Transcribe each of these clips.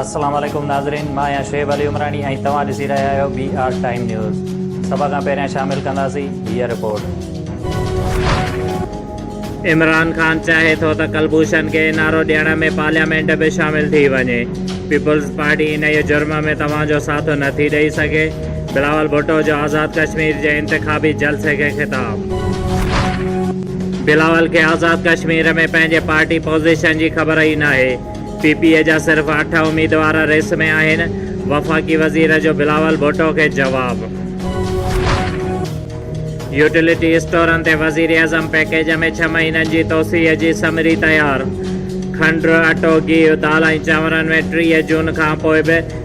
السلام عليڪم ناظرين مان آهيان شعيب علي عمراڻي ۽ توهان ڏسي رهيا آهيو بي آر ٽائيم نيوز سڀ کان پهريان شامل ڪنداسين هيء رپورٽ. عمران خان چاهي ٿو ته ڪلڀوشن کي اين آر او ڏيڻ ۾ پارليامينٽ به شامل ٿي وڃي، پيپلز پارٽي انهيء جرم ۾ توهان جو ساٿ نٿي ڏئي سگهي. بلاول ڀٽو جو آزاد ڪشمير جي انتخابي جلسي کي خطاب بلاول کي آزاد ڪشمير ۾ پنهنجي پارٽي پوزيشن جي خبر ئي ناهي، پي پي اي جا صرف اٺ اميدوار ريس ۾ آهن، وفاقي وزير جو بلاول ڀٽو کي جواب. يوٽيلٽي اسٽورن تي وزيراعظم پيڪيج ۾ ڇهه مهينن جي توسيع جي سمري تيار، کنڊ، اٽو، گيهه، دال ۽ چانورن ۾ ٽيهه جون کانپوء به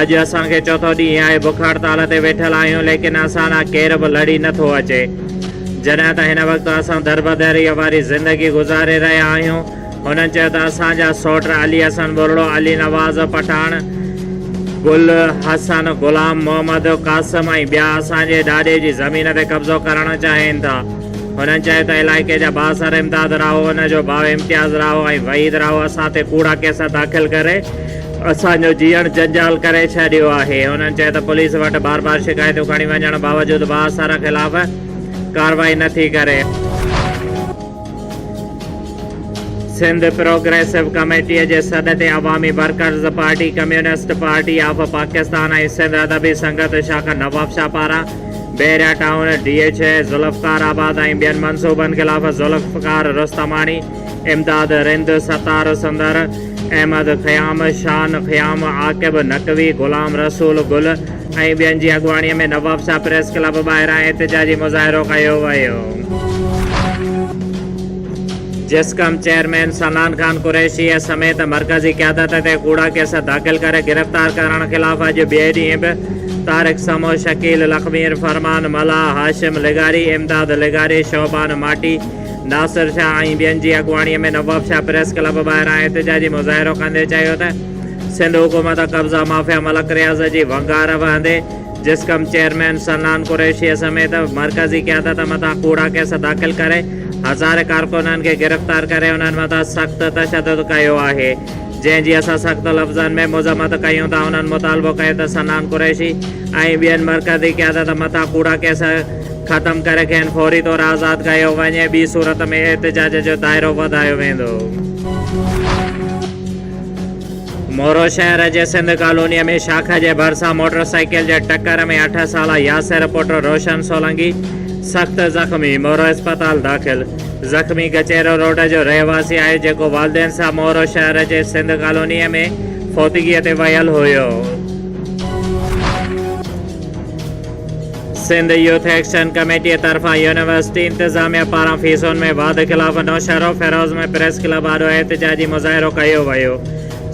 اڄ اسان کي چوٿون ڏينهن آهي بک هڙتال تي ويٺل آهيون ليڪن اسان ڏانهن ڪير به لڙي نه ٿو اچي. جڏهن ته هن وقت اسان دربدريء واري زندگي گذاري رهيا آهيون. هنن چيو ته اسان جا سوٽ علي حسن ٻرڙو، علي نواز پٺاڻ، گل حسن، غلام محمد قاسم ۽ ٻيا اسان جي ڏاڏي جي زمين تي قبضو ڪرڻ چاهين ٿا. هنن چيو ته علائقي جا بااثر امداد راهو، ان جو ڀاء امتياز راهو ۽ وحيد راهو اسان تي ڪوڙا ڪيس داخل ڪري اسان جو جيئڻ جنجال ڪري ڇڏيو آهي. هنن چيو ته پوليس وٽ بار بار شڪايتون کڻي وڃڻ باوجود بااثر خلاف ڪارروائي نه ٿي ڪري. سنڌ پروگريسو ڪميٽي جي سڏ تي Awami workers party, communist party of Pakistan ۽ Sindh Adabi Sangat شاخ نوابشاهه پاران Bahria town, D H A, Zulfiqarabad ۽ ٻين منصوبن خلاف ذوالفقار رستماڻي، امداد رند، ستار سندر، احمد خيام، شان خيام، عاقب نقوي، غلام رسول گل ۽ ٻين جي اڳواڻي ۾ نوابشاهه پريس ڪلب ٻاهران احتجاجي مظاهرو ڪيو ويو. جسقم چيئرمين صنعان خان قريشيء سميت مرڪزي قيادت تي ڪوڙا ڪيس داخل ڪري گرفتار ڪرڻ خلاف اڄ ٻئي ڏينهن به طارق سمو، شڪيل لخمير، فرمان ملاح، هاشم لغاري، امداد لغاري، شعبان ماٽي، ناصر شاهه ۽ ٻين جي اڳواڻي ۾ نواب شاهه پريس ڪلب ٻاهران احتجاجي مظاهرو ڪندي چيو ته سنڌ حڪومت قبضا مافيا ملڪ رياض جي ونگار وهندي جسقم چيئرمين صنعان قريشي سميت مرڪزي قيادت مٿان ڪوڙا ڪيس داخل ڪري هزارين ڪارڪنن کي گرفتار ڪري انهن مٿان سخت تشدد ڪيو آهي. جنهن جي اسان سخت لفظن ۾ مذمت ڪيون ٿا انهن مطالبو ڪيو ته صنعان قريشي ۽ ٻين مرڪزي قيادت مٿان ڪوڙا ڪيس ختم ڪري کين فوري طور آزاد ڪيو وڃي ٻي صورت ۾ احتجاج جو دائرو وڌايو ويندو. مورو شهر جي سنڌ ڪالونيء ۾ شاخ جي ڀرسان موٽر سائيڪل جي ٽڪر ۾ اٺ سالا ياسر پٽ روشن سولنگي سخت زخمي، مورو اسپتال داخل. زخمي ڪچهرو روڊ جو رهواسي آهي، جيڪو والدين سان مورو شهر جي سنڌ ڪالونيء ۾ فوتگيء تي ويل هيو. سنڌ يوٿ ايڪشن ڪميٽيء طرفان يونيورسٽي انتظاميه پاران فيسون ۾ واڌ خلاف نوشهرو فيروز ۾ پريس ڪلب آڏو احتجاجي مظاهرو ڪيو ويو.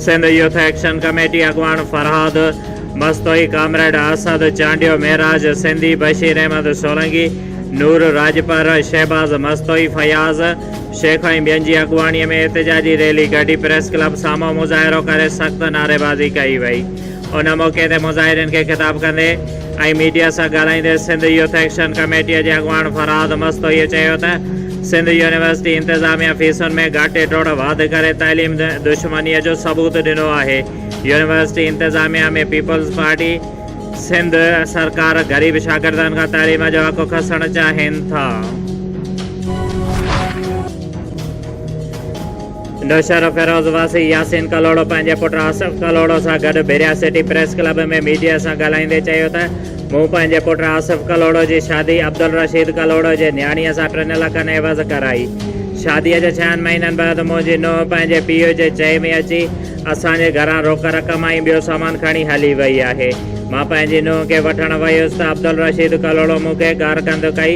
سنڌ يوٿ ايڪشن ڪميٽي اڳواڻ فرهاد مستوئي، ڪامريڊ اسد چانڊيو، معراج سنڌي، بشير احمد سولنگي، نور راڄپر، شهباز مستوئي، فياض شيخ ۽ ٻين جي اڳواڻي ۾ احتجاجي ريلي ڪڍي پريس ڪلب سامهون مظاهرو ڪري سخت نعريبازي ڪئي وئي. ان موقعي تي مظاهرين کي خطاب ڪندي ۽ ميڊيا سان ڳالهائيندي سنڌ يوٿ ايڪشن ڪميٽي جي اڳواڻ فرهاد مستوئي چيو ته سنڌ يونيورسٽي انتظاميا فيسن ۾ گهاٽي ٽوڙ واڌ ڪري تعليم دشمني جو ثبوت ڏنو آهي. يونيورسٽي انتظاميا ۾ پيپلز پارٽي. سنڌ سرڪار غريب شاگردن کان تعليم جو حق کسڻ چاهين ٿا. نوشهرو فيروز واسي ياسين ڪلهوڙو پنهنجي پٽ آصف ڪلهوڙو سان گڏ Bahria city press club ۾ media سان ڳالهائيندي چيو ته مون پنهنجي پٽ آصف ڪلهوڙو جي شادي عبدالرشيد ڪلهوڙو جي نياڻيء سان ٽن لکن عيوض ڪرائي. شاديء جي ڇهن مهينن بعد منهنجي نونهن پنهنجي پيء جي چئي ۾ اچي اسان جي گهران روڪ رقم ۽ ٻيو سامان کڻي هلي وئي آهي. مان پنهنجي نونهن کي وٺڻ ويس ته عبدالرشيد ڪلهوڙو مون کي گار ڪنڌ ڪئي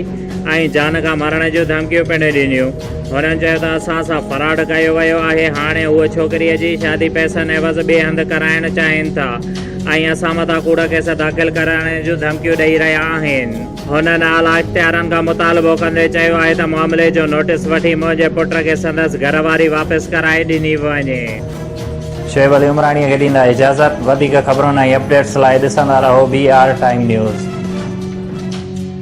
۽ جان کان مرڻ جون ڌمڪيون پڻ ڏنيون. هنن چيو ته اسان سان فراڊ ڪيو ويو آهي، هاڻي هو ڇوڪريء جي شادي پئسن عيوض ٻئي هنڌ ڪرائڻ چاهين ٿا ۽ اسان مٿان ڪوڙا ڪيس داخل ڪرائڻ جون ڌمڪيون ڏئي رهيا آهن. هن اعليٰ اختيارن کان مطالبو ڪندي چيو آهي ته معاملي جو نوٽيس وٺي منهنجي پٽ کي سندس گهر واري واپس ڪرائي ڏني وڃي. شعيب علي عمراڻيء کي ڏيندا اجازت. وڌيڪ خبرن ۽ اپ ڊيٽس لاء ڏسندا رهو بي آر ٽائيم نيوز.